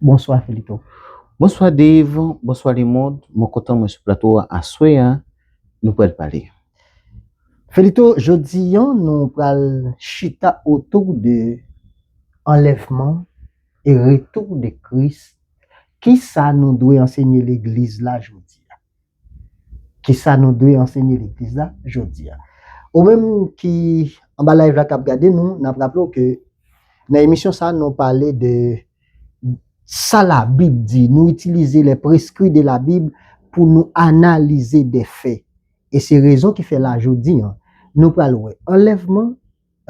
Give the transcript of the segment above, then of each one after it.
Bonswa Felito. Bonswa Dave, bonswa lemond, mwen kontan mwen sou plato a aswè a, nou pral pale. Felito, jodi an nou pral chita otou de anlèvman e retou de Kris, kisa nou dwe ansenye legliz la jodi a? Kisa nou dwe ansenye legliz la jodia? Ou menm ki anba live la kap gade nou, nap raple w ke nan emisyon sa nou pale de sa la bib di, nou itilize les prescrits de la bible pou nou analize des faits e se rezon ki fè la jodi an nou pral wè anlèvman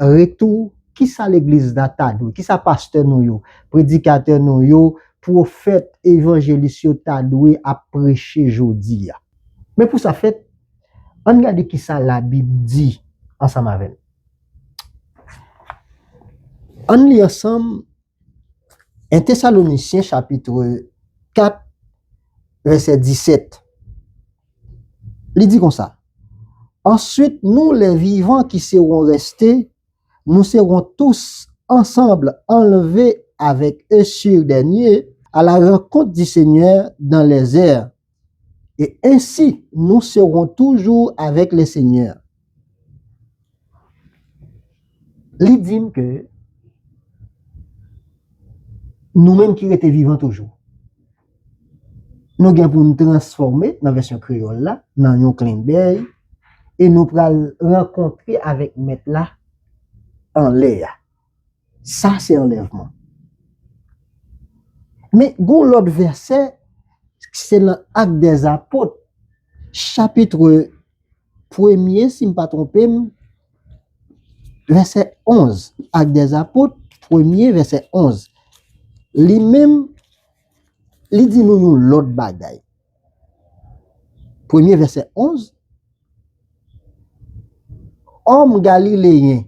Retou, Kisa legliz la ta dwe, kisa pastè nou yo, predikatè nou yo, pwofèt, evanjelis yo ta dwe ap preche jodi a? Men pou sa fèt, ann gade kisa Labib di ansanm avè n. Ann li ansanm 1 Tesalonisyen chapitre 4 vèsè 17 Li di konsa, Answit nou lè vivan ki sewon rèste, nou sewon tous ansanbl anlve avèk e sur dè nye, a la rankont di Senyè dan lèzè, Et ainsi nous serons toujours avec le Seigneur. Li di m ke nou menm ki rete vivan toujou, nou gen pou nou transfòme nan vèsyon kreyòl la, nan yon klenbèy, e nou pral rankontre avèk Mèt la anlè a. Sa se anlèvman. Men gon lòt vèsè ki se nan Actes des Apôtres chapitre premye si m pa twonpe m vèsè 11, Actes des Apôtres premye vèsè 11 li menm li di nou yon lòt bagay. Premye vèsè 11 Òm galileyen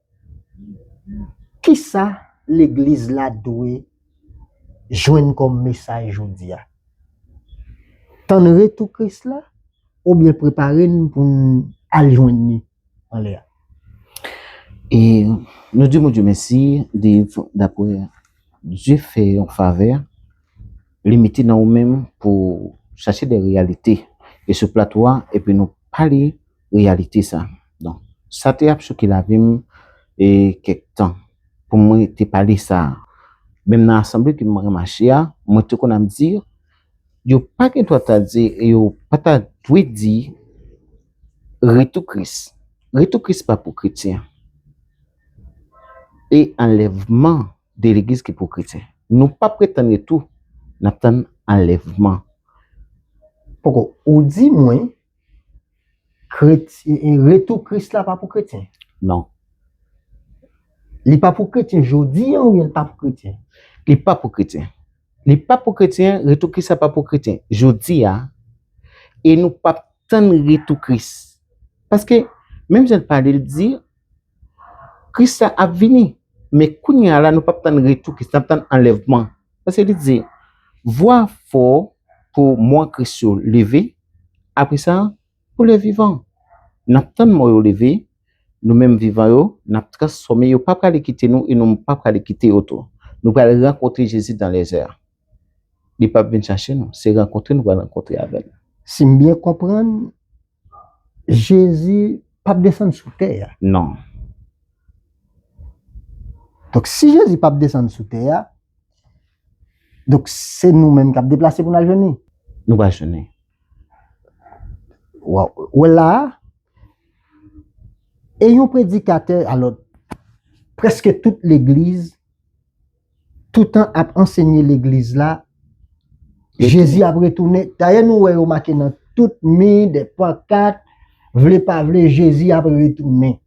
Kisa legliz la dwe jwenn kòm mesaj jodi a? Tann retou Kris la oubyen prepare n pou n al jwenn li anlè a? E nou di Bondye mèsi Dave dapre Dye fè yon favè li mete nan ou menm pou chache de reyalite e sou plato a epi nou pale reyalite sa. Donk, sa te ap chokè lavi m e kèk tan pou mwen te pale sa. Menm nan asanble ke mwen remache a, mwen te konn ap di, yo pa gen dwa ta di e yo pa ta dwe di Retou Kris. Retou Kris pa pou kretyen. E anlèvman de legliz ki pou kretyen. Nou pa pretann retou, n ap tann anlèvman. Poko, ou di mwen, Retou Kris la pa pou kretyen? Non. Li pa pou kretyen jodi an oubyen li pa pou kretyen? Li pa pou kretyen. Li pa pou kretyen, retou Kris la pa pou kretyen jodi a e nou p ap tann retou Kris. Paske, menm jan l pale l di, Kris la ap vini. Men kounye a la nou p ap tann retou Kris, n ap tann anlèvman. Paske li di, vwa fò pou mò Kris yo leve. Apre sa, pou lè vivan, n ap tann mò yo leve, nou menm vivan yo, n ap transfòme, yo pa prale kite nou e nou menm pa prale kite yo tou. Nou pral rankontre Jezi dan lèzè. Li p ap vin chache nou, se rankontre nou pral rankontre avè l. Si m byen konprann, Jezi p ap desann sou tè a? Non. Donk si Jezi p ap desann sou tè a. Donk se nou menm kap deplase pou n al jwenn li? Nou pral jwenn li. Wa wè la a, e yon predikatè alò prèske tout legliz toutan ap ansenye legliz la Jezi ap retounen. Dayè nou wè yo make nan tout mi, de pankat, vle pa vle Jezi ap retounen.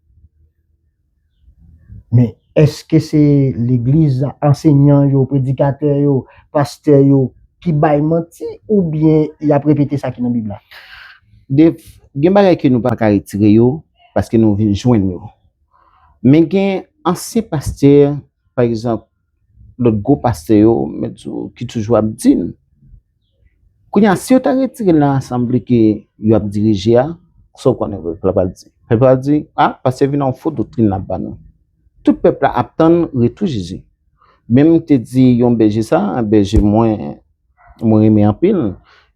Men, èske se legliz, ansenyan yo, predikatè yo, pastè yo ki bay manti oubyen y ap repete sa ki nan Bib la? Gen bagay ke nou pa ka retire yo paske nou vin jwenn yo. Men gen ansyen pastè, pa egzanp, lòt gwo pastè yo mèt sou ki toujou ap di n kounye a si yo ta retire l nan asanble ke yo ap dirije a sa w konnen pèp la pral di pèp la pral di a pastè vin a yon fo doktrin l ap ba nou tout pèp la ap tann retou Jezi menm m te di yon bèje sa a bèje mwen mwen renmen anpil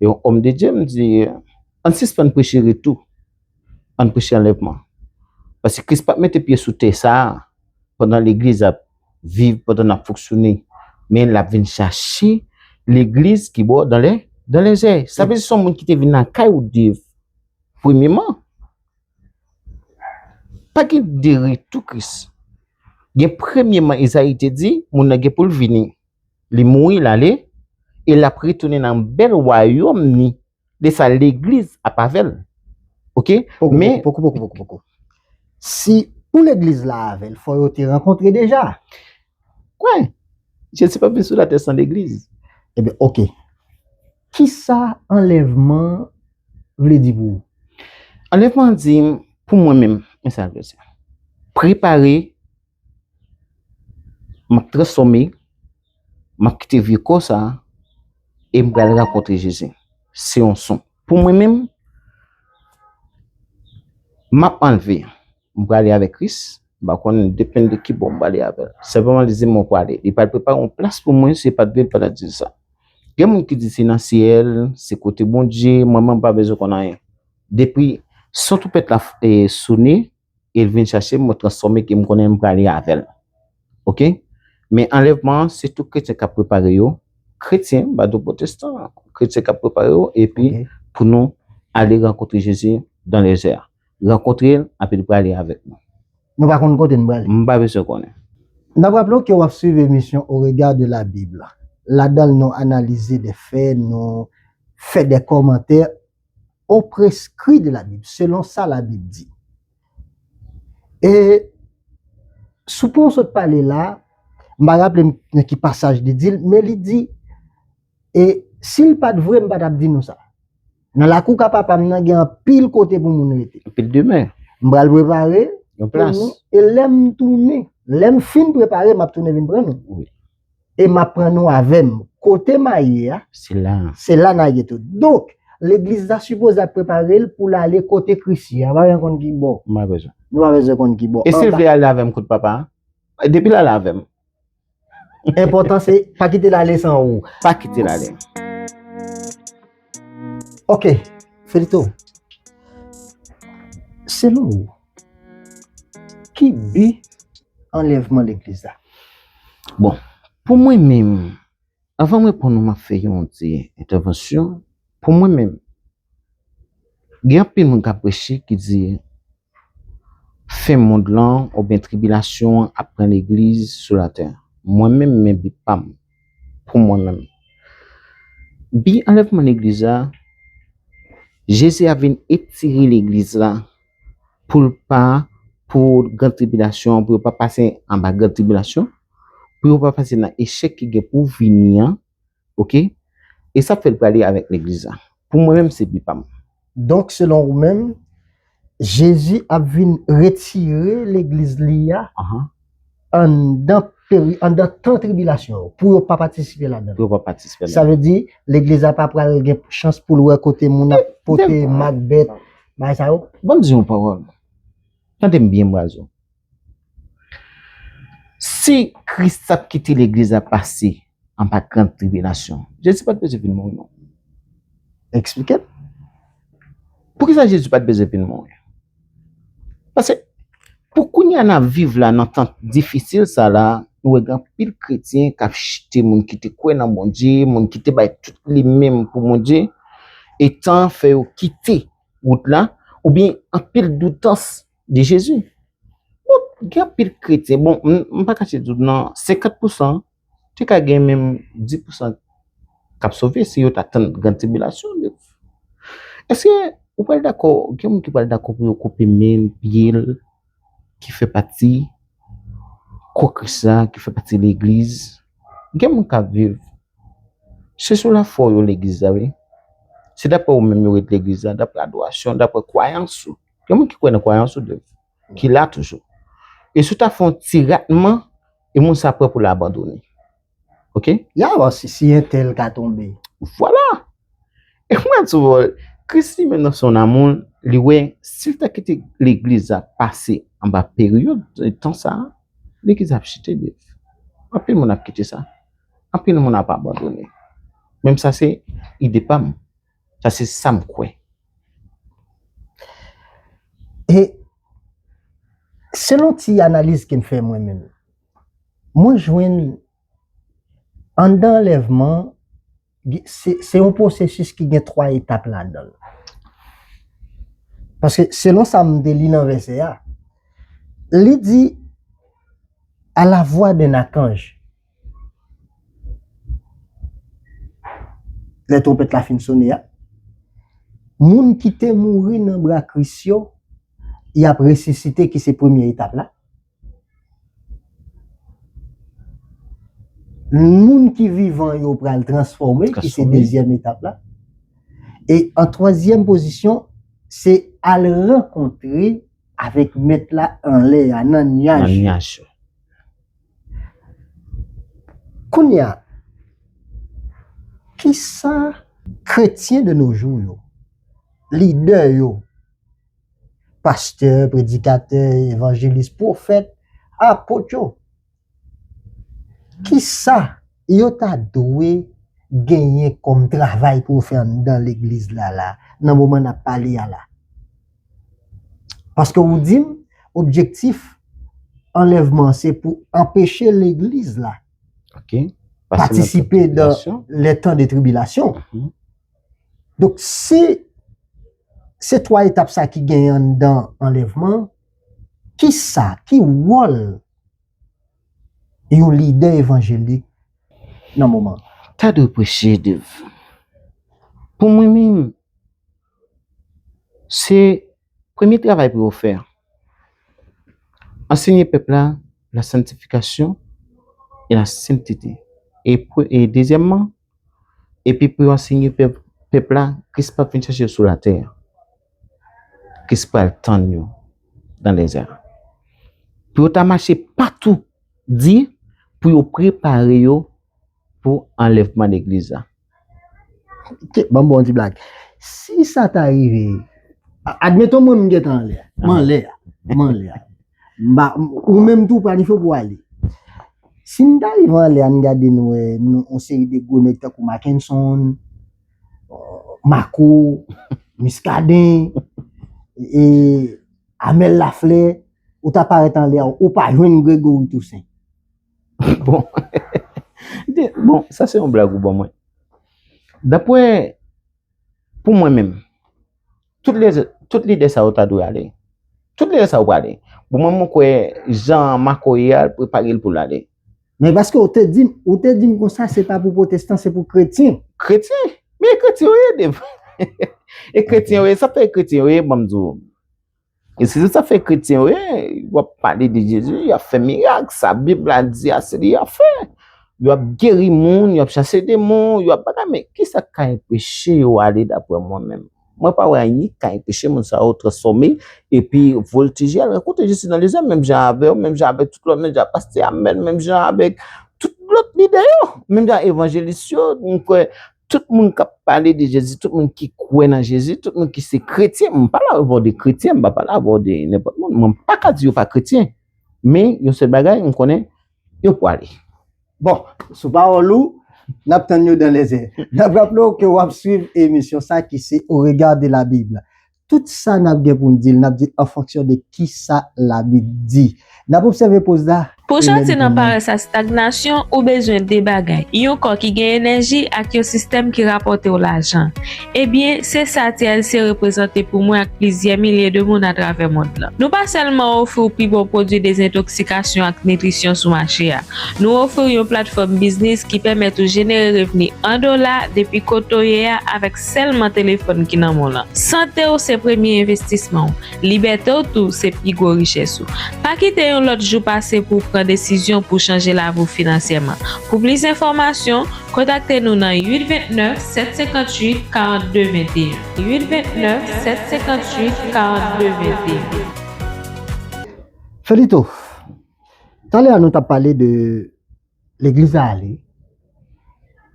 yon òm de Dye m di an n sispann preche retou an n preche anlèvman paske Kris p ap mete pye sou tè sa a pandan legliz ap viv pandan nap fonksyone men lap vin chache legliz ki bo dan lè dan lè zè sa vle di son moun ki te vin lakay ou dev premyeman pa gen de retou kris gen premyeman ezayi te di moun nan gen poul vini li mouri lale e lap retounen nan bèl wayòm ni De sa legliz ap avèl ok men. Poko poko poko poko si pou legliz la avèl fò yo te rankontre deja. Kwen jezi pap vin sou latè san legliz. Ebyen ok kisa anlèvman vle di pou ou. Anlèvman an di pou mwen menm men sa vle di prepare map transfòme. Map kite vye kò sa e m pral rankontre Jezi. Se yon son. Pou mwen menm, map anleve. M prale avèk Kris. M pa konn depen de ki bò m prale avè l. Senpleman li di m ou prale. Li pral prepare yon plas pou mwen se pat vre l pa ta di sa. Gen moun ki di se nan syèl, se kote Bondye, mwen menm m pa bezwen konn anyen. Depi son twonpèt la sone. el vin chachem mwen transfòme ke m konnen m prale avèl ok men anlèvman an se tout kretyen kap prepare yo kretyen m pa di w potestan kretyen kap prepare yo epi pou nou ale rankontre jezi dan lèzè rankontre l api li prale avèk nou Nou pa konn kote nou prale? M pa bezwen konnen. N ap raple w ke w ap swiv emisyon Au regard de la Bible. Ladan l nou analize de fè, nou fè de kòmantè au prescrit de la Bible, selon sa la Bible di. E, sou pwen ou sot pale la, m pa raple m nan ki pasaj li di l, men li di, e, si l pa t vre m pa t ap di nou sa. Nan lakou ka papa m nan gen anpil kote pou moun rete. Anpil demen. M pral prepare. Yon plas. E lè m tounen, lè m fin prepare, m ap tounen vin pran nou. Wi. e map pran nou avèm. Kote ma ye a, se la na ye tou. Donk, legliz la sipoze ap prepare l pou l ale kote Kris ye a. Nou pa bezwen konn ki bò. Nou pa bezwen. Nou pa bezwen konn ki bò. E si l vle ale avèm kout papa? Depi l ale avèm. Enpòtan se, pa kite l ale san ou. Pa kite l ale. Ok, Felito. Selon ou. Ki bi anlèvman legliz la? Bon, pou mwen menm, avan m reponn ou m ap fè yon ti entèvansyon, pou mwen menm, gen anpil moun k ap preche ki di fen mond lan oubyen tribilasyon an ap pran legliz sou latè. Mwen menm men bi pa m. pou mwen menm. Bi anlèvman legliz la, Jezi ap vin etire legliz la pou l pa pou gran tribilasyon an, pou yo pa pase anba gran tribilasyon, pou yo pa pase nan echèk ki gen pou vini an, ok, e sa fè l prale avèk legliz la. Pou mwen menm se bi pa m. Donk selon ou menm, Jezi ap vin retire legliz li a anndan peri anndan tan tribilasyon yo pou yo pa patisipe ladan l. Pou yo pa patisipe ladan l. Sa vle di legliz la pa pral gen chans pou l wè kote moun ap pote mak bèt, bagay sa yo. Banm di w yon pawòl. Tande m byen bwazo. Si Kris t ap kite legliz la pase an pa krent tribilasyon. Jezi pa t bezwen vin mouri non. Eksplike m. Poukisa Jezi pa t bezwen vin mouri? Pase, pou kounye a n ap viv la nan tan difisil sa la, nou wè gen anpil kretyen k ap chite, moun ki te kwè nan Bondye, moun ki te bay tout li menm pou Bondye, e tan an fè yo kite wout la, oubyen anpil doutans de Jezi. Donk, gen anpil kretyen, bon, m pa kache di w nan, 50 pousan, Te ka gen menm di pousan k ap sove si yo ta tann gran tribilasyon an. Èske ou pral dakò, gen moun ki pral dakò pou yo koupe men l, pye l, ki fè pati kò Kris la, ki fè pati legliz? Gen moun k ap viv, se sou lafwa w yo legliz la wi. Se dapre ou menm yo ret legliz la, dapre adorasyon, dapre kwayans ou. Gen moun ki kwè nan kwayans ou. ki la toujou. E si w ta fè yon ti ratman, e moun sa prè pou l abandone. Ok? Y alò si si entèl ka tonbe? Vwala! E m pral di w, Kris li menm nan son amoun, li wè si l ta kite legliz la pase anba peryòd tan sa a, legliz la ap chite nèt. Anpil moun ap kite sa. Anpil moun ap abandone. Men sa se ide pa m. Sa se sa m kwè. E selon ti analiz ke m fè mwen menm, mwen jwenn anndan anlèvman, se yon pwosesis ki gen 3 etap ladan l. Paske selon sa m te li nan vèsè a, li di, a la vwa d'un akanj. Lè twonpèt la fin sone a, moun ki te mouri nan bra Kris yo, y ap resisite ki se premye etap la. Moun ki vivan yo pral transfòme ki se dezyèm etap la. E an twazyèm pozisyon, se al rankontre avèk Mèt la anlè a, nan nyaj yo. Kounye a, ki sa kretyen de nojou yo, lidè yo, pastè, predikatè, evanjelis, pwofèt, apot yo, ki sa yo ta dwe genyen kòm travay pou yo fè anndan legliz la la, nan moman n ap pale a la? Paske ou di m objektif anlèvman an se pou anpeche legliz la patisipe dan lè tan de tribilasyon. Donk si se 3 etap sa ki gen an dan anlèvman, ki sa, ki wòl yon lidè evanjelik nan moman? Ta dwe preche de pou mwen menm. Se premye travay pou yo fè. Anseye pèp la la santifikasyon e la sentete. E dezyèmman, epi pou yo anseye pèp la Kris pap vin chèche yo sou latè. Kris pral tann yo nan dezè a. Pou yo ta mache patou di pou yo prepare yo pou anlèvman legliz la. Ke, banm bon ti blag. Si sa ta rive, admeton mwen m gen tan anlè, m anlè, m anlè. M ba, ou menm tou planifye w pou w ale. Si n ta rive anlè an n gade n wè nou on seri de gwo nèg tankou Makenson, Marco, Muscadin, e Amel Lafleur, ou ta parèt anlè a, ou pa jwenn Grégory Toussaint. Bon, bon, sa se yon blag ou ban mwen. Dapwè, pou mwen menm, tout lè, tout lide sa yo ta dwe ale. Tout lide sa yo pa ale. Pou mwen mwen kwe, jan mako ye al, pou e pale l pou l ale. Men paske ou te dim, ou te dim kon sa se pa pou potestan, se pou kretyen. Kretyen? Men e kretyen yo ye, Dave. E kretyen yo ye, sa fè e kretyen yo ye, ban m di w. E se sa fè kretyen yo, yo ap pale de Jezi, yo ap fè mirak, sa Bib la di a se li yo ap fè. Yo ap geri moun, yo ap chase demon, yo ap bagay men, ki sa ka enpeche yo ale dapre mwen menm? Mwen pa wè anyen ki ka enpeche moun sa yo transfòme epi voltije al rankontre Jezi nan lezèm menm jan avè yo, menm jan avèk tout lòt, menm jan avèk pastè Amèl, menm jan avèk tout lòt lidè yo, menm jan evanjelis yo, mwen kwè Tout moun k ap pale de Jezi, tout moun ki kwè nan Jezi, tout moun ki se kretyen, m pa la avè w de kretyen, m pa pale avè w de nenpòt moun, mwen pa ka di yo pa kretyen, men yon sèl bagay m konnen, yo pwale. Bon, sou pawòl ou, n ap tann yo dan lèzè. N ap raple w ke w ap swiv emisyon sa ki se Au regard de la Bible. Tout sa n ap gen pou n di l, n ap di l an fonksyon de ki sa Labib di. N ap obsève poz la. Pou w soti nan parès a stagnasyon, ou bezwen de bagay, yon kò ki gen enèji ak yon sistèm ki rapòte w lajan. Ebyen, se sa TLC reprezante pou mwen ak plizyè milye de moun atravè mond lan. Nou pa sèlman ofri w pi bon pwodui dezentoksikasyon ak nitrisyon sou mache a. Nou ofri w yon platfòm biznis ki pèmèt ou jenere revni an dola depi kote w ye a avèk Sèlman telefòn ki nan men w lan. Sante w se premye envestisman w. Libète w tou se pi gwo richès ou. Pa kite yon lòt jou pase pou w pran desizyon pou w chanje lavi w finansyèman. Pou plis enfòmasyon, kontakte nou nan 829 758 42 21. 829 758 42 21. Felito, talè a nou tap pale de Legliz la ale.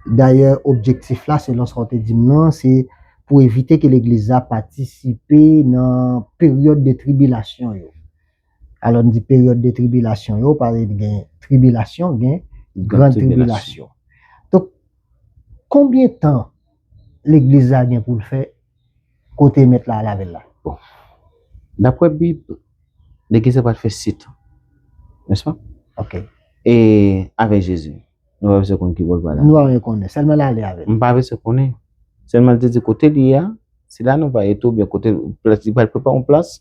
Dayè objektif la selon sa w te di m nan se pou evite ke legliz la patisipe nan peryòd de tribilasyon yo. Alò n di peryòd de tribilasyon yo pale de gen tribilasyon gen gran tribilasyon. Donk konbyen tan legliz la gen pou l fè kote mèt la al avè l la? Bon, daprè Bib, legliz la pral fè sit, nèspa? Ok. E avè Jezi? Nou pa bezwen konn ki bò l pral ale. Nou pa bezwen konnen, sèlman l ale avè l. Nou pa bezwen konnen. Sèlman l te di kote li ye a, se la nou va ye tou, oubyen kote plas li pral prepare yon plas.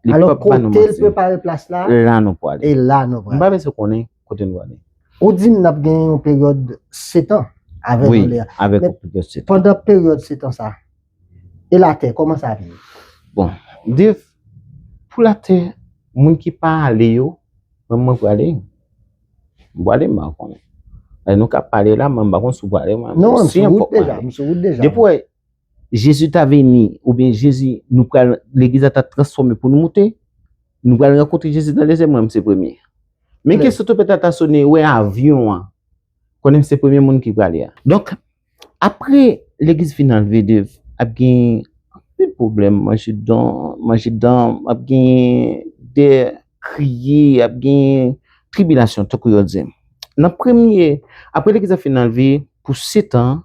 Alò kote l prepare plas la, e la nou pral. Nou pa bezwen konnen. kote nou ale. Ou di m nap gen yon peryòd setan avèk anlè a. Avèk yon peryòd setan. Pandan peryòd setan sa, e latè kòman sa ap ye? Bon, Dave, pou latè, moun ki pa ale yo, menm mwen prale. M prale m pa konnen. Nou ka pale la, men m pa konn si w prale. Non, m sou wout deja. M sou wout deja. Jezi ta vini oubyen Jezi nou pral legliz la ta transfòme pou nou moute, nou pral rankontre Jezi nan dezyèm ranm se premye. Men ke sotopèt la ta sone wè avyon an, konnen se premye moun ki prale a. Donk, apre legliz fin anlve dev, ap gen anpil pwoblèm, manje dan, manje dan, ap gen de kriye, ap gen tribilasyon tankou yo di. Nan premye, apre legliz la fin anlve pou setan,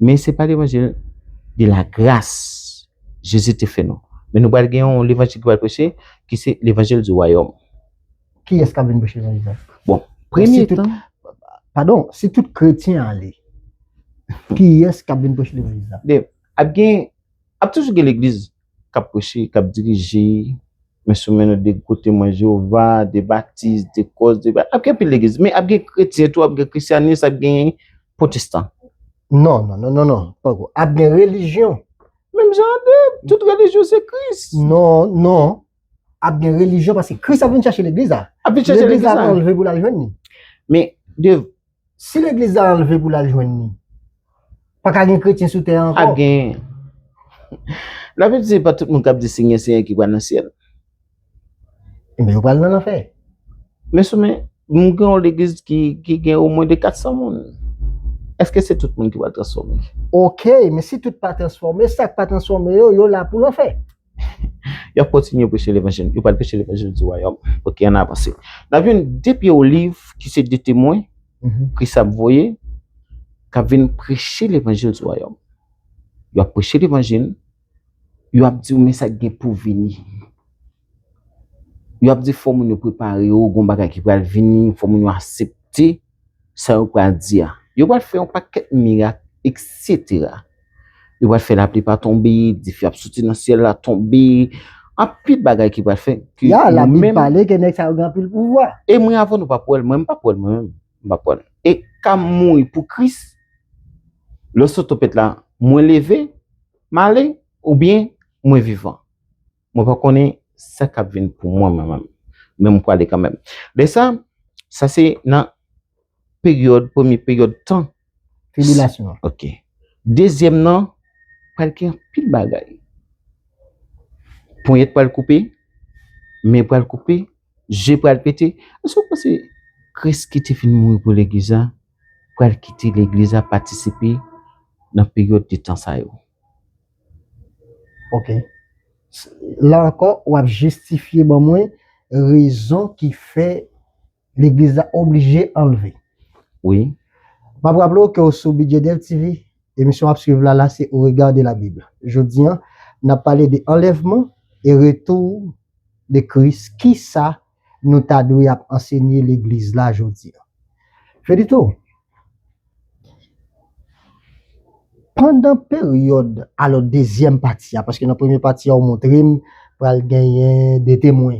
Men se pa levanjil de la gras Jezi te fè nou. Men nou pral gen yon levanjil ki pral preche ki se levanjil di wayòm. Kiyès kap vin preche levanjil sa? Bon, premye tan. Padon, si tout kretyen ale, kiyès kap vin preche levanjil sa? Ap gen, ap toujou gen legliz. k ap preche, k ap dirije, men sou men nou de gwo Temwen Jewova, de Batis, de Kòs, de Bat, ap gen anpil legliz. Men, ap gen kretyen tou, ap gen Krisyanis, ap gen Pwotestan. Non, non, non, non, non, panko. Ap gen relijyon. Menm jan an de, tout relijyon se Kris. Non, non. Ap gen relijyon paske Kris ap vin chache legliz la. Ap vin chache legliz la. Legliz la pral leve pou l al jwenn li. Men, de. Si legliz la anlve pou lal jwenn li. Paka gen kretyen sou tè a ankò. Ap gen. La bib di se pa tout moun kap di senyè senyè ki pral nan syèl. Enben yo pral nan lanfè. Men sou men nou gen yon legliz ki gen o mwen de 400 moun. Eske se tout moun ki pral transfòme? Ok men si tout pa transfòme sak pa transfòme yo yo la pou lanfè. Yap kontinye preche levanjil. Yo pral preche levanjil di wayòm. Ok, ann avanse. Nap jwenn de pye oliv ki se de temwen Kris ap voye k ap vin preche levanjil di wayòm. Yo ap preche levanjil, yo ap di yo men sa k gen pou vini. Yo ap di fò moun yo prepare yo, gon bagay ki pral vini, fò moun yo asepte. sa yo pral di a. Yo pral fè yon pakèt mirak, eksetera. Yo pral fè lapli pa tonbe, dife ap soti nan syèl la tonbe, anpil bagay ki pral fè. Ya, la Bib pale ke nèg sa yo gen anpil pouvwa. E mwen avè w nou pap wè l, mwen menm m pap wè l mwen menm, m pap wè l. E ka m mouri pou Kris, lè w sot tanpèt la, mwen leve, m ale, oubyen mwen vivan. Mwen pa konnen sa k ap vin pou mwen mwen menm, men mwen prale kanmenm. Lè sa, sa se nan peryòd, premye peryòd tan. Tribilasyon an. Ok. Dezyèm nan, pral gen anpil bagay. Ponyèt pral koupe, men pral koupe, je pral pete. Èske ou panse Kris ki te vin mouri pou legliz la pral kite legliz la patisipe nan peryòd de tan sa yo? Ok. La ankò, w ap jistifye ban mwen rezon ki fè legliz la oblije anlve. Wi. M ap raple w ke w sou Bidjè Dev TV. Emisyon w ap swiv la la se Au regard de la Bible. Jodi an, n ap pale de anlèvman e retou de Kris. Kisa nou ta dwe ap ansenye legliz la jodi a. Felito, Pandan peryòd alò dezyèm pati a, paske nan premye pati a ou montre m pral genyen 2 temwen,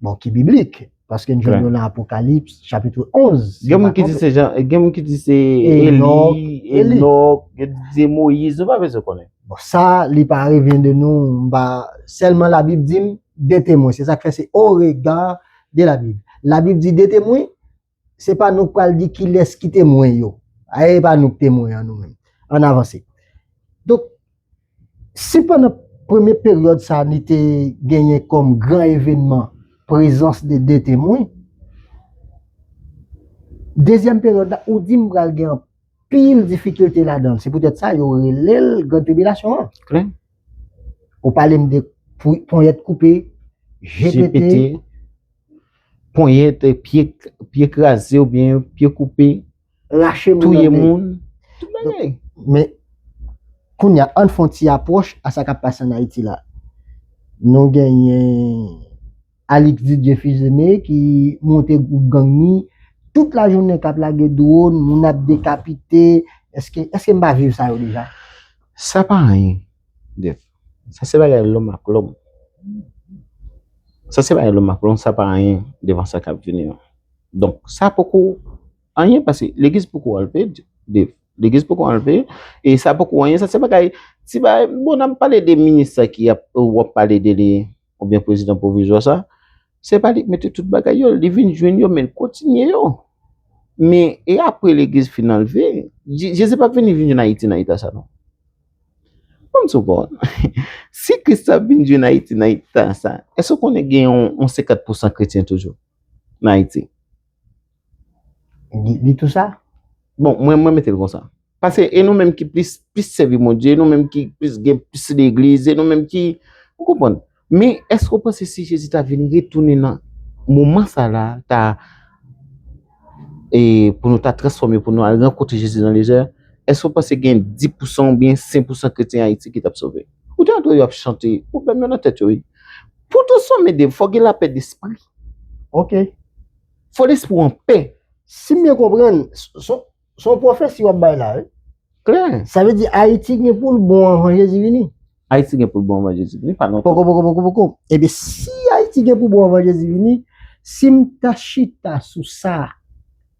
bon ki biblik, paske n jwenn yo nan Apokalips chapitre 11. Gen moun ki di se Jan, gen moun ki di se Eli, Enòk, gen ki di se Moyiz, nou pa bezwen konnen. Bon sa li pa revyen de nou, m pa, sèlman labib di m. de temwen. Se sa k fè se au regard de la Bible. La Bible di de temwen, se pa nou k pral di kilès ki temwen yo. Ayè e pa nou k temwen an nou menm. Ann avanse. Donk, si pandan premye peryòd sa li te genyen kòm gran evènman prezans de de temwen, dezyèm peryòd la ou di m pral gen anpil difikilte ladan l. Se poutèt sa yo rele l gran tribilasyon an. Klè. Ou pale m de ponyèt koupe, je pete. Ponyèt, pye kraze ou byen pye koupe. Rache moun. Touye moun. Tout bagay. Men, kounye a, an n fon ti apwòch a sa k ap pase an Ayiti la. Nou genyen. Alix Didier Fils-Aimé ki monte gwoup gang ni tout la jounen kap lage drone, moun ap dekapite, eske eske m pa viv sa yo deja? Sa pa anyen Jeff, sa se bagay lòm ak lòm, sa se bagay lòm ak lòm, sa pa anyen devan sa kap vini an. Donk sa poko anyen paske legliz poko anlve Jeff, legliz poko anlve e sa poko anyen, sa se bagay ti bagay, bon nap pale de minis sa ki ap wap pale de li. oubyen prezidan pwovizwa sa, se pa li k mete tout bagay yo, li vin jwenn yo men l kontinye yo. Men, e apre legliz fin anlve, Jezi p ap vini vin jwenn Ayiti nan eta sa non. Ban m sou pa w non. Si Kris la vin jwenn Ayiti nan eta sa, èske w konnen gen yon 50 pousan kretyen toujou nan Ayiti? Li tou sa? Bon, mwen mwen mete l konsa. Pase e nou menm ki plis plis sèvi Bondye, e nou menm ki plis gen plis legliz, e nou menm ki, ou konprann? Men, èske ou panse si Jezi ta vin retounen nan moman sa la, ta e pou nou ta transfòme, pou nou al rankontre Jezi nan lejè, èske ou panse gen di pou san oubyen sen pou san kretyen Ayiti ki t ap sove? Ou ta dwe yo ap chante, pwoblèm yo nan tèt yo wi. Pou tou sove de, fò gen lapè despri. Ok. Fo lespri w an pè. Si m byen konprann, se yon pwofesi w ap bay la wi. Klè. Sa vle di Ayiti gen pou l bon anvan Jezi vini? Ayiti gen pou l bon anvan Jezi vini, pa lontan. Pokopokopokopoko. Ebyen, si Ayiti gen pou bon anvan Jezi vini, si m ta chita sou sa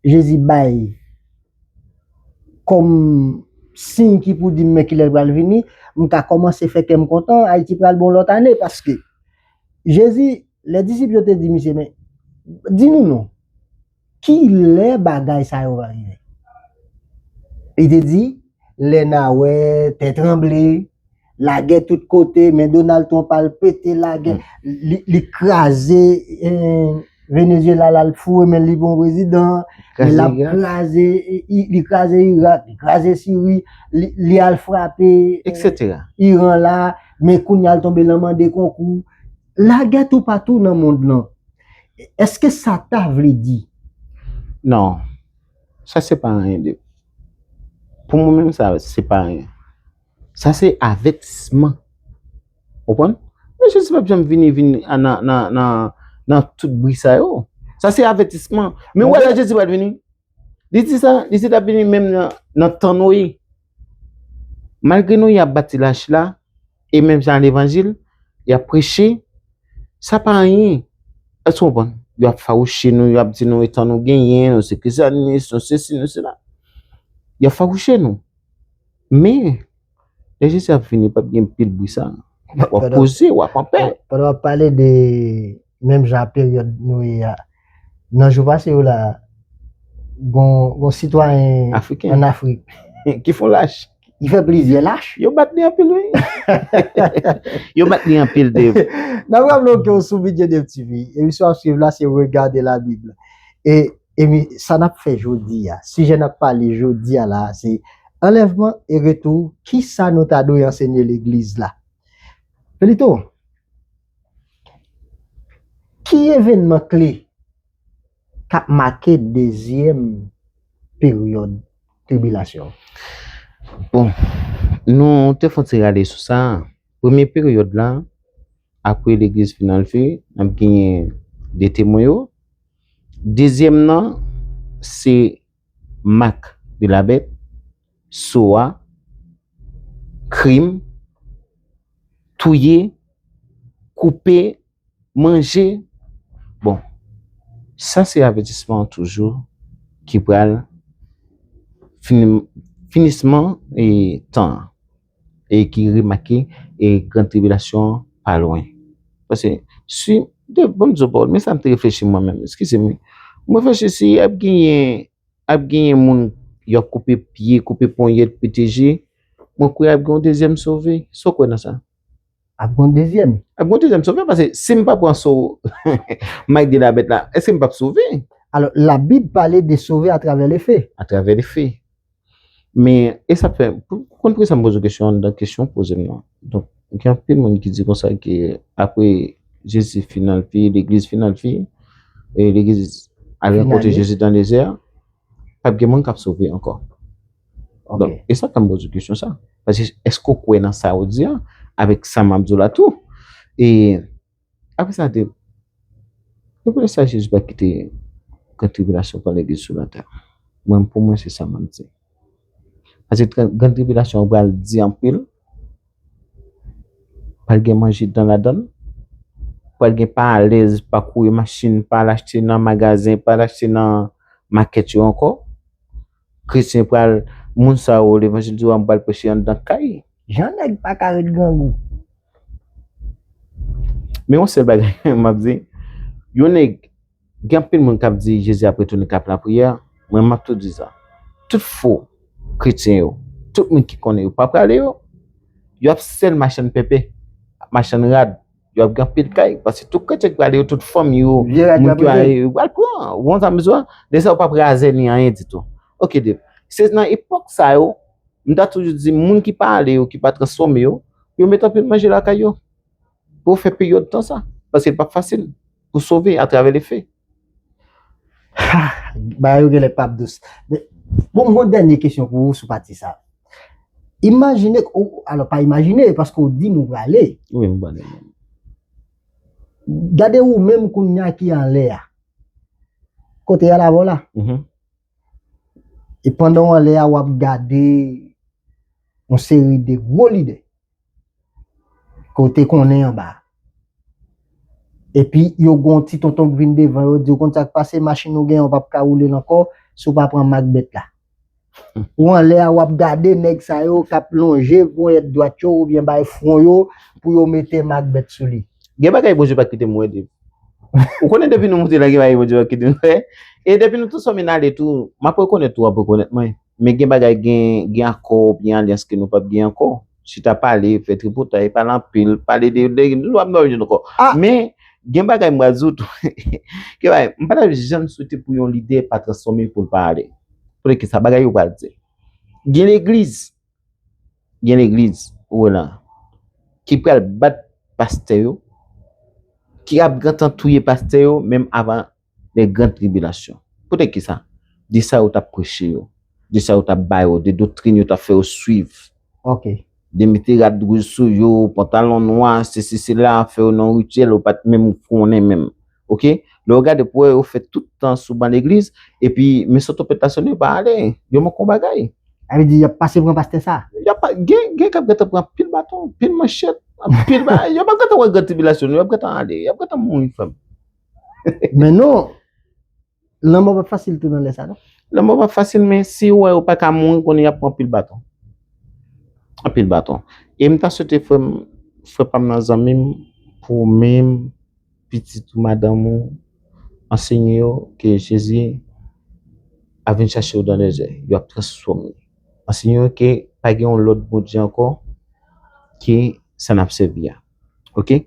Jezi bay kòm siy ki pou di m men ki lè l pral vini, m ka kòmanse fè kè m kontan, Ayiti pral bon lòt ane paske Jezi. Lè disip yo te di misye, Men, di nou non, ki lè bagay sa yo va rive? Li te di, Lè n a wè tè tranble, lagè tout kote, men Donald Trump al pete lagè, li kraze Venezyela la, l foure men l, li pran prezidan, l ap kraze, li kraze Irak, li kraze Siri, li al frape Iran la, men kounye a l tonbe nan mande konkou. Lagè toupatou nan mond lan. Eske sa ta vle di. Non. Sa se pa anyen de. Pou mwen menm sa se pa anyen. Sa se avètisman. Ou konprann? Mwen jis pa janm vini vin nan tout bri sa yo. Sa se avètisman. Men wè la Jezi pral vini. Li di sa, li di l ap vini menm nan tan Noye. Malgre nou y ap bati lach la, e menm jan levanjil, y ap preche, sa pa anyen. Èske nou konprann? Y ap fawouche nou, y ap di nou etan nou genyen, nou se Krisyanis, nou sesi, nou sela. Y ap fawouche nou. Men, lè Jezi ap vini, pap gen pil bri sa. W ap poze, w ap anpè. Pandan w ap pale de menm jan ak peryòd nou ye a. Nan jou pase yo la, gon sitwayen an Afrik. Ki fon lach. Ki fè plizyè lach. Yo bat li anpil wi. Yo bat li anpil Dave. Nan pran nou ke ou sou Bidye Dave TV. Emisyon ap swiv la se Regardez la Bible. E emi sa nap fè jodi a. Sijè nap pale jodi a la se anlèvman e retou. Kisa nou ta dwe ansenye legliz la. Felito. Ki evènman kle k ap make dezyèm peryòd tribilasyon an? Bon, nou te fè yon ti rale sou sa. Premye peryòd la, apre Legliz fin anlve, n ap genyen de temwen yo. Dezyèm nan, se Mak de la bèt, sowa, krim, touye, koupe, manje, bon sa se avètisman an toujou ki pral finisman tan an. e ki remake e gran tribilasyon an pa lwen. Pase, si, de bon zo pawol, men sa m te reflechi mwen menm, eskize m wi, m reflechi si ap genyen, ap genyen moun yo ap koupe pye, koupe ponyèt, pete je, mwen kwè ap gen yon dezyèm sove. Sa w kwè nan sa? Ap gen yon dezyèm? Ap gen yon dezyèm sove, pase si m pa pran so may de la bèt la, eske m pap sove? Alò, labib pale de sove atravè lefe. Atravè lefe. Men, e sa fè, ou konn poukisa m poze kesyon an anndan kesyon w poze m lan? Donk, gen anpil moun ki di konsa ke apre Jezi fin al fini, legliz fin al fini, e legliz al rankontre Jezi dan dezè a, pa p gen moun k ap sove ankò. Donk, e sa fè m poze kesyon sa. Paske, èske ou kwè nan sa ou di a? Avèk sa m ap di w la tou. E. Apre sa, l di l, Se poutèt sa Jezi pa kite gran tribilasyon pran Legliz sou latè. Mwen, pou mwen, se sa m ap di. Paske gran tribilasyon an pral di anpil, pral gen manje dan ladan l, pral gen pa alèz, pa kouye machin, pa al achte nan magazen, pa al achte nan makèt yo ankò. Kretyen pral moun sa yo levanjil di yo a m pral preche anndan kay. Jan nèg pa ka ret grangou. Men yon sèl bagay map di yon nèg gen anpil moun kap di Jezi ap retounen kap lapriyè mwen map tou di sa tout fo kretyen yo tout moun ki konnen yo pa prale yo yo ap sèl machann pèpè machann rad Yo ap gen pil kay, paske tout kretyen ki prale yo, tout fanm yo, moun ki prale yo, wal pran, won sa mizwa, de sa ou pap razè ni anyen ditou. Ok de, se nan epok sa yo, m ta toujou di moun ki pa ale yo, ki pa transfome yo, yo met anpil manje lakay yo, pou fè peryode tan sa, paske pap fasil, pou sove a travè le fe. Bagay yo genlè pap dous. Bon m gon dènye kesyon pou ou sou pati sa. Imajine ke ou, alò pa imajine paske ou di m ou prale. Wi m prale. Gade ou menm kounya ki anlè a. Kote y al avè w la. E pandan w anlè a, w ap gade yon seri de gwo lide ke w te konnen anba a. Epi yo gen yon ti tonton ki vin devan yo di w konn sa k pase, machin ou gen an ou pap ka woule l ankò si w pa pran mak bèt la. Ou anlè a, w ap gade nèg sa yo k ap lonje ponyèt dwat yo oubyen bay fwon yo pou yo mete mak bèt sou li. Gen bagay Bondye pa kite m wè depi. Ou konnen depi nou moute la gen bagay Bondye pap kite nou fè. E depi nou tou sò min ale tou, m ap rekonèt ou, w ap rekonèt mwen. Men gen bagay gen, gen akò oubyen alyans ke nou pap gen ankò. Chita pale, fè tripotay, pale anpil, pale de de nou pap nan youn ankò. Men gen bagay m pral di w tou, gen bagay m pa tap janm swete pou yon lidè pa transfòme pou l pa ale. Konnen ke sa bagay yo pral di. Gen legliz, Gen legliz Roland ki pral bat pastè yo, ki ap gentan touye pastè yo menm avan lè gran tribilasyon. Poutèt ki sa? De sa yo t ap preche yo, de sa yo t ap ba yo, de doktrin yo t ap fè yo suiv. Ok. De mete rad wouj sou yo, pantalon nwa, sesi sela, fè yo nan rityèl yo pa t menm konnen menm. Ok, lè yo gade pou wè yo fè tout tan sou ban legliz, epi men sot tronpèt la sone yo pa ale, yo man kon bagay. Sa vle di yap pase pran pastè sa? Yap pa, gen, gen kap gentan pran anpil baton, anpil manchèt, anpil bagay, yo pap gentan wè gran tribilasyon non, yap gentan ale, yap gentan mouri frè m. Men non! Lanmò pa fasil tou nan lè sa non. Lanmò pa fasil men si yo wè yo pa ka mouri konnen y ap pran anpil baton. Anpil baton. E m ta swete frè m, frè pa m nan, zanmi m, pou ou menm, pitit ou, madanm ou, ansenye yo ke Jezi ap vin chache yo dan lè zè. Yo ap transfòme. Ansenye yo ke pa gen yon lòt Bondye ankò ke sa n ap sèvi a. Ok?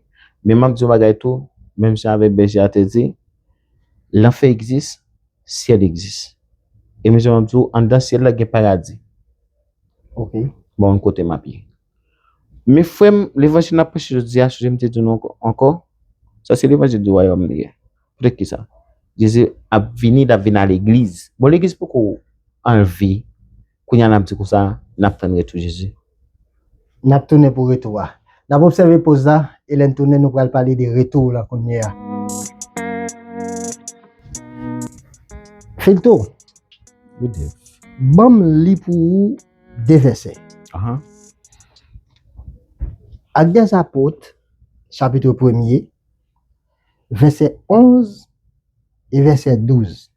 Men m ap di yon bagay tou, menm jan avèk bèje a te di. Lanfè egzis, syèl egzis. E mezanmi map di ou anndan syèl la gen paradi. Ok. Bon mwen kote map ye. Men frè m, levanjil nap preche jodi a, chonje m te di nou ankò, sa se levanjil di wayòm li ye. Poutèt ki sa? Jezi ap vini, lap vini a legliz. Bon legliz poko anlve. Kounye a n ap di konsa, N ap tann retou Jezi. N ap tounen pou retou a. N ap obsève poz la, e lè n tounen nou pral pale de retou w lan kounye a. Filto, ban m li pou ou de vèsè. Ak Dèzapot, chapitre premye, vèsè 11 e vèsè 12.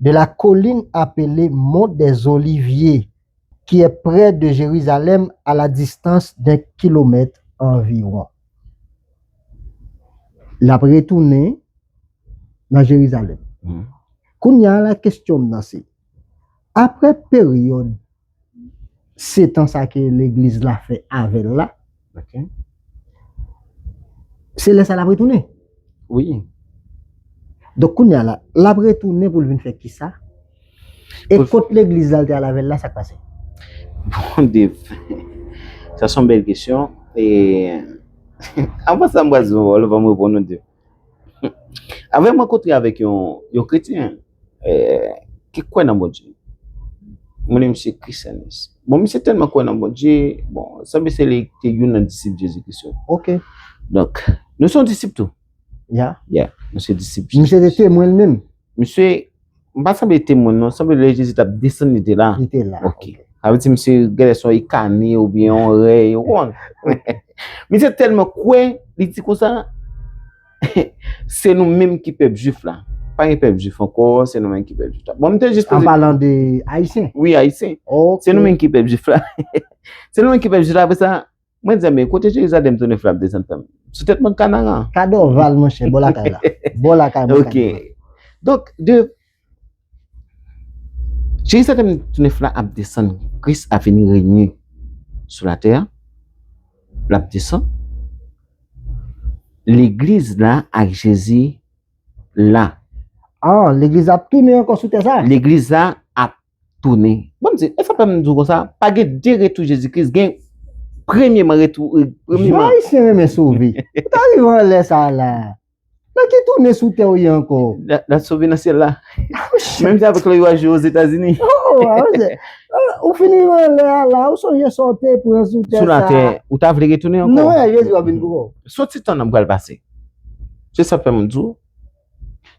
de la colline apele mont des oliviers ki è prè de Jerizalèm a la distans den kilomèt anviwon. L ap retounen nan Jerizalèm. Kounye a la kesyon m nan se, aprè peryòd. setan sa ke legliz la fè avèl la se lè sa lap retounen wi donk kounya la lap retounen poul vin fè kisa e kot legliz la te al avèl la sak pase bon de sa son bèl kesyon e anvan sa m pral di yon pawòl fòm reponn yon de Avè mwen kontre avèk yon kretyen ki kwè nan Bondye. Mwen li misye Christianis. Bon, misye tèlman kwè nan Bondye, bon, sanble se li te youn nan disip Jezi Kris yo. Ok. Donk, nou se yon disip tou. Ya. Ya, nou se disip Jezi Kris. Misye te temwen li menm. Misye m pa sanble te moun non, sanble lè Jezi t ap desann li te la. Li te la. Ok. Sa vle di misye gèlè se yon ikane oubyen yon rèy ou konprann. Misye tèlman kwè, li di konsa, se nou menm ki pèp jwif la. Pa gen pèp jwif ankò, se nou menm ki pèp jwif la. Bon m te jis poze. An palan de ayisyen? Wi ayisyen. Ok. Se nou menm ki pèp jwif la. Se nou menm ki pèp jwif la apre sa Mwen di men kote Jerizalèm tou nèf la ap desann frè m? Sou tèt mòn Kanaran. Ka Dòval monchè, bò lakay la. Bò lakay mwen ka Dòval. Ok. Donk, de, Jerizalèm tou nèf la ap desann. Kris ap vini renye sou latè a. L ap desann. Legliz la ak Jezi la. Ah, legliz la ap tounen ankò sou tè sa a? Legliz la ap tounen. Bon m di, e sa fè m di w konsa, pa gen de retou Jezi Kris, gen premyeman retou, premyeman. Jan Ayisyen renmen sove. Ou ta rive anlè sa a la. Nan ki tounen sou tè ou ye ankò? Nan sove nan syèl la. Menm jan avèk lè yo al jwe Ozetazini. Oh, a ou se. Ou fin rive anlè a la, ou sonje sa ou te pran sou tè sa a. Sou latè, ou ta vle retounen ankò? Non, e Jezi va vin pou ou. Soti tan nan m pral pase. Se sa fè m di w.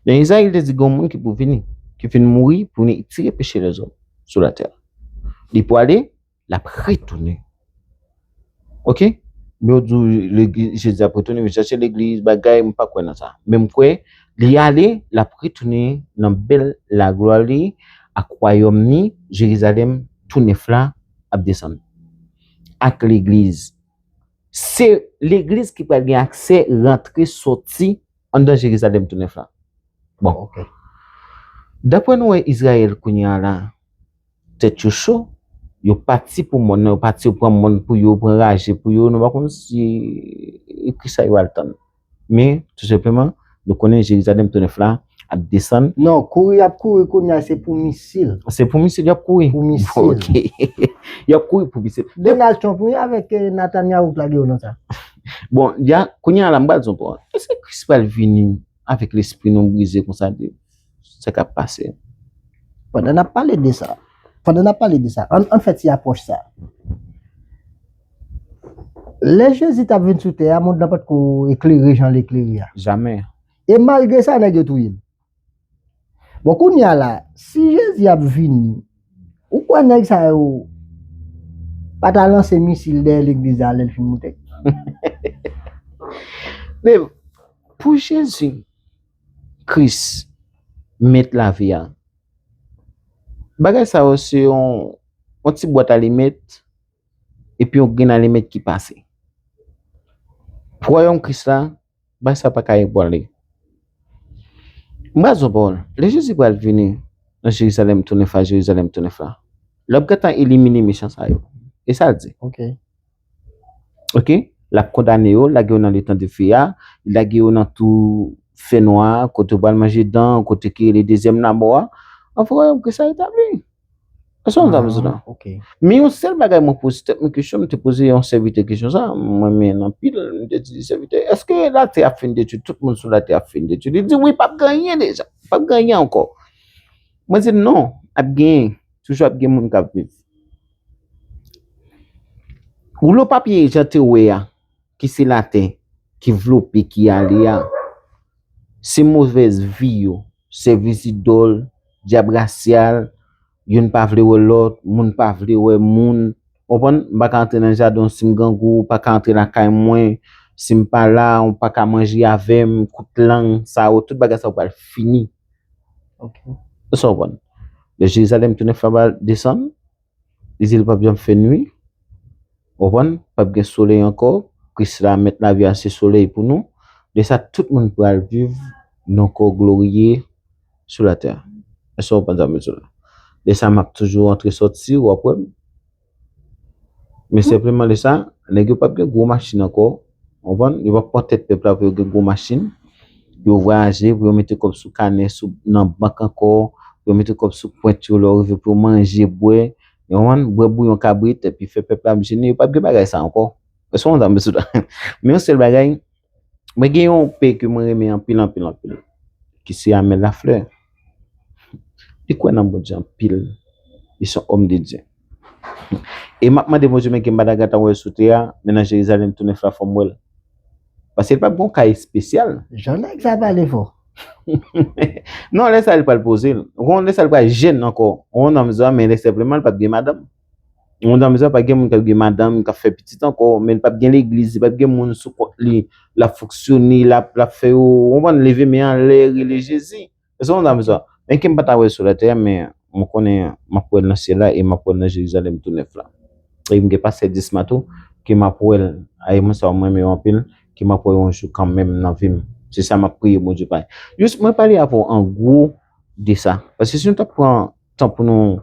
Nan Ezayi, li te di gen yon moun ki pou vini, ki fin mouri pou vini etire peche lèzòm sou latè. Li pwale, l ap retounen. Ok? Men yo di w Jezi ap retounen, vin chache legliz, bagay, m pa kwè nan sa. Men m kwè, li ale, l ap retounen nan bèl laglwa li ak wayòm ni, Jerizalèm tou nèf la ap desann. Ak legliz. Se legliz ki pral gen aksè rantre soti. Anndan Jerizalèm tounèf la. Bon, ok. Dapre nou wè Izrayèl kounye a la, tèt yo cho, yo pati pou mòn nan, yo pati yo pran mòn pou yo, pran raje pou yo, nou pa konn si e ki sa yo al tann. Men, tou senpleman, nou konnen Jerizalèm tounèf la ap desann. Non, kouri y ap kouri kounye a se pou misil. Se pou misil y ap kouri? Pou misil. Ok. Y ap kouri pou misil. Donald Trump wi avèk Natanyahou k lage yo nan sa. Bon, ya, kounye a la m pral di w bon, èske Kris pral vini avèk lespri nou brize konsa de sa k ap pase? Pandan n ap pale de sa, pandan n ap pale de sa, ann fè ti apwòch sa. Lè Jezi t ap vin sou tè a, mond lan pa t ko eklere jan l eklere a. Jamè. E malgre sa, nèg yo touye l. Bon kounya la si jezi ap vini ou kwè nèg sa yo pa ta lanse misil dèyè legliz la lèl fin moute? Men pou jezi kris met lavi a bagay sa yo se yon ti bwat alimèt epi yon grenn alimèt ki pase pou wayòm kris la Bagay sa pa ka ebranle. M pral di w yon pawòl, lè Jezi pral vini nan Jerizalèm tou nèf la, Jerizalèm tou nèf la, l ap gentan elimine mechan sa yo. E sa l di. Ok. L ap kondane yo, lage yo nan letan dife a, lage yo nan tou fènwa a, kote yo pral manje dan, kote ki rele dezyèm lamò a. Anfwa, yo pral retabli. Ase yon dam zoudan. Ok. Men yon sèl bagay mwen poze tèt mwen kesyon, mwen te poze yon sèvitè kesyon sa, mwen men nan pil, mwen te di sèvitè, eske latè ap fin detwi, tout moun sou latè ap fin detwi? Li di wi, pap gen anyen deja, pap gen anyen ankò. Mwen di l non, ap gen, toujou ap gen moun k ap viv. Woulo papye jan te wè a. ki se latè ki vlope ki ale a, se movèz vi yo, sèvis idòl, dyab rasyal, youn pa vle wè lòt, moun pa vle wè moun, ou konprann, m pa ka antre nan jaden w si m grangou, ou pa ka antre lakay mwen si m pa la, ou pa ka manje avè m, kout lang sa yo, tout bagay sa yo pral fini. Èske w konprann? Lè Jerizalèm tounen fè ba desann, Li di l pap janm fè nwi. Ou konprann? Pap gen solèy ankò. Kris la, Mèt lavi a, se solèy pou nou. Lè sa a, tout moun pral viv nan kò gloriye sou latè. Èske w konprann sa m vle di w la? Lè sa a, m ap toujou antre soti, w ap wè m. Men senpleman lè sa a, nèg yo pap gen gwo machin ankò. Ou konprann? Yo pa pran tèt pèp la pou yo gen gwo machin, pou yo vwayaje, pou yo mete kòb sou kanè, sou nan bank ankò, pou yo mete kòb sou pwent yo lè yo rive pou yo manje, bwè, ou konprann, bwè bouyon kabrit epi fè pèp la ap jene, yo pap gen bagay sa ankò. Èske w konprann sa m vle sot la? Men yon sèl bagay, mwen gen yon pè ke mwen renmen anpil anpil anpil ki se Amel Lafleur. Li kwè nan Bondye anpil. Li se yon òm de Dye. E m ap mande Bondye men ki Mbadagata m wè sou tè a, men nan Jerizalèm tou nèf la fò m wè l. Paske li pap gen yon ka espesyal. Jan nèg sa pale fò. Non lè sa li pral poze l. Ou konn lè sa li pral jèn ankò. Ou konn nonm sa men lè senpleman li pap gen madanm. Yon moun tankou sa pa gen moun kap gen madanm kap fè pitit ankò men li pap gen legliz li pap gen moun sou kont li lap fonksyone lap lap fè yo konprann leve men anlè rele Jezi se yon moun tankou sa men kem pata wè sou latè men mwen konnen map wèl nan syèl la e map wèl nan Jerizalèm tou nèf la e mgen pastè Disma tou ke map wèl a e moun sa yo mwen renmen yo anpil ke map wè yo yon jou kanmenm nan vim se sa map priye Bondye bay jis mwen pale avèw an gwo de sa paske si nou tap pran tan pou nou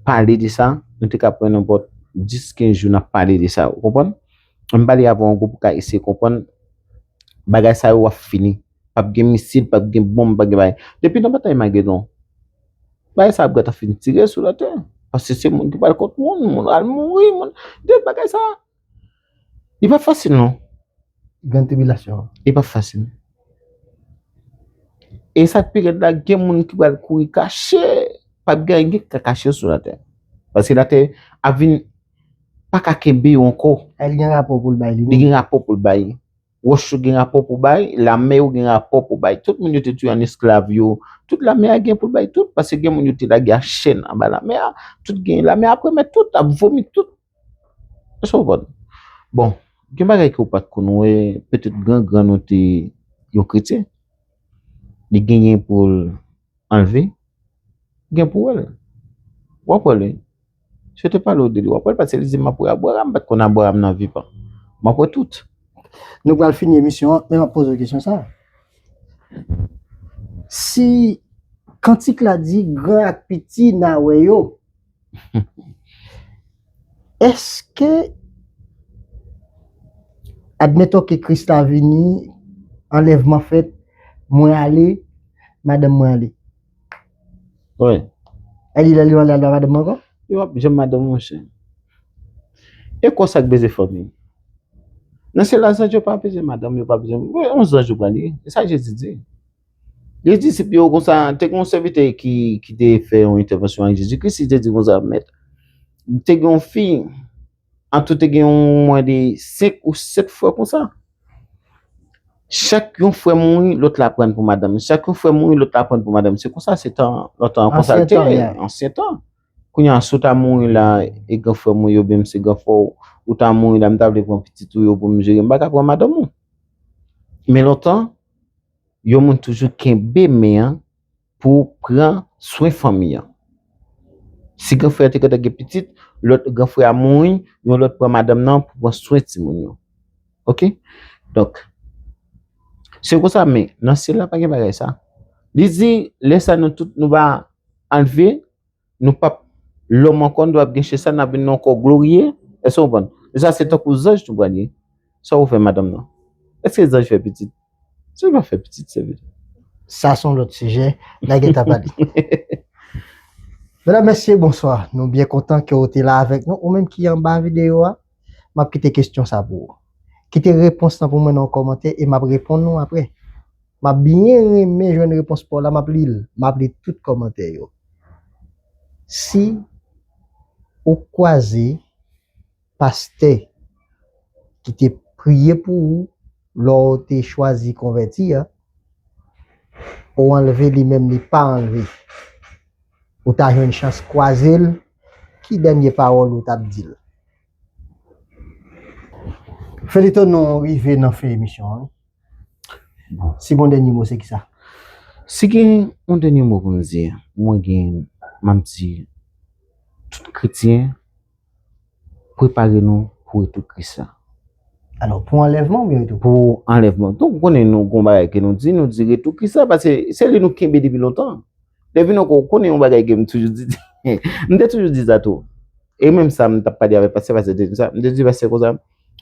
pale de sa, nou te ka pran nenpòt 10, 15 jou nan pale de sa, ou konprann? An m pale avè w ango pou ka eseye konprann, bagay sa yo ap fini, pa p gen misil, pa p gen bonm, pa p gen bagay. Depi nan batay Magedon, bagay sa ap gen tan fin tire sou latè, paske se moun ki pral kont moun, moun al mouri, moun, de bagay sa. Li pap fasil non gran tribilasyon an. Li pap fasil. E sa k pi rèd la gen moun ki pral kouri kache, pap gen anyen ki ka kache yo sou latè. Paske latè ap vin pa ka kenbe yo ankò. E li gen rapò pou l bay li menm. Li gen rapò pou l bay. Wòch yo gen rapò pou bay, lame yo gen rapò pou bay. Tout moun yo te touye an esklav yo, tout lame a gen pou l bay tout. Paske gen moun yo te lage a chèn anba lame a, tout gen lame a ap remèt tout, ap vomi tout. Èske w konprann? Bon, gen bagay ke w pa t konn wè, petèt gran grann ou te yon kretyen, li genyen pou l anleve, ou gen pou w wè l. W ap wè l wi. Si yo te pale w de li, w ap wè l paske li di m ap wè Abraram, m pa t konn Abraram nan vivan. M ap wè tout. Nou pral fini emisyon an, men m ap poze w kesyon sa a, Si kantik la di gran ak piti n a wè yo, Eske admettons ke Kris la vini, anlèvman fèt, mwen ale, madanm mwen ale? Wi. E li lè li ale al ba madanm ankò? Li pap janm madanm ou monchè. E kò sa k beze fanmi? Nan syèl la zanj yo pa bezwen madanm, yo pa bezwen, on zanj ou pral ye. E sa Jezi di. Li te di disip li yo konsa, te gen yon sèvitè ki te fè yon entèvansyon ak Jezi Kris, li te di konsa, Mèt, te gen yon fi, antou te gen yon mwen de senk ou sèt frè konsa. Chak yon frè mouri, lòt la pran pou madanm li. Chak yon frè mouri, lòt la pran pou madanm li. Se konsa se tan, lòt tan konsa li te, ansyen tan. Kounye a, si w ta mouri la, e gran frè mwen yo byen m se gran frè w, ou ta mouri la, m ta vle pran pitit ou yo pou m jere, m pa ka pran madanm ou. Men lontan. yon moun toujou kenbe men an pou pran swen fanmi an. Si gran frè a te gentan gen pitit, lòt gran frè a mouri, yon lòt pran madanm nan pou pran swen timoun yo. Ok? Donk, se konsa men nan syèl la pa gen bagay sa. Li di lè sa nou tout nou va anlve. nou pap lòm ankò, nou pap gen chè sa, n'ap vin nan yon kò gloriye, èske ou konprann? Lè sa se tankou zanj nou pral ye, sa ou fè madanm nan? Èske zanj fè pitit? Zanj pa fè pitit sèvitè. Sa son lòt sijè, n'a gentan pale. Medam, mesye, bonswa, nou byen kontan ke ou te la avèk nou, ou menm ki anba videyo a, m'ap kite kestyon sa pou ou. Kite repons lan pou mwen nan yon kòmantè e m'ap reponn ou aprè. Map byen renmen jwenn repons paw la map lil map li tout kòmantè yo si ou kwaze pastè ki te priye pou ou lè ou te chwazi konvèti a ou anlve li menm li pa anlve ou ta jwenn chans kwazel ki dènye pawòl ou tap dil. Feliton nou rive nan fen emisyon an wi. Si gon dènye mo se ki sa? Si gen yon dènye mo pou m di, mwen gen map di tout kretyen prepare nou pou retou kris la. Alò pou anlèvman oubyen retou kris? Pou anlèvman. Donk ou konnen nou gon bagay ke nou di, nou di retou kris la pase se li nou kenbe depi lontan. Devine ou ko konnen yon bagay ke m toujou di. M te toujou di sa tou. E menm sa m tap pale avèk pastè, pastè te di sa. M te di pastè konsa.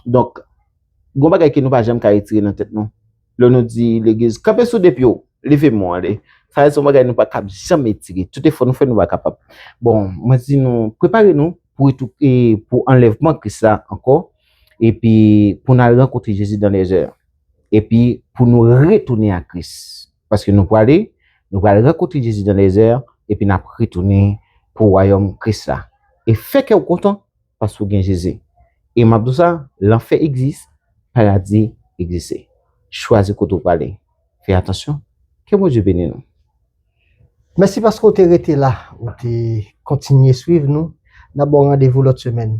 Donk, gon bagay ke nou pa janm ka retire nan tèt nou. Lè nou di legliz, kanpe sou de pye w, leve men w ale. Sa se yon bagay nou pa kab janm retire. Tout efò nou fè nou pa kapab. Bon, mwen di nou, prepare nou pou retou, e pou anlèvman Kris la ankò. E pi pou n al rankontre Jezi dan lèzè. E pi pou nou retounen a Kris. Paske nou prale, nou pral rankontre Jezi nan dezè a, epi n ap retounen pou wayòm Kris la. E fè kè w kontan, paske w gen Jezi. E m ap di w sa, lanfè egzis, paradi egzise. Chwazi kote w prale. Fè atansyon. Ke Bondye beni nou. Mèsi paske w te rete la, ou te kontinye swiv nou. N ap ba w randevou lòt semèn.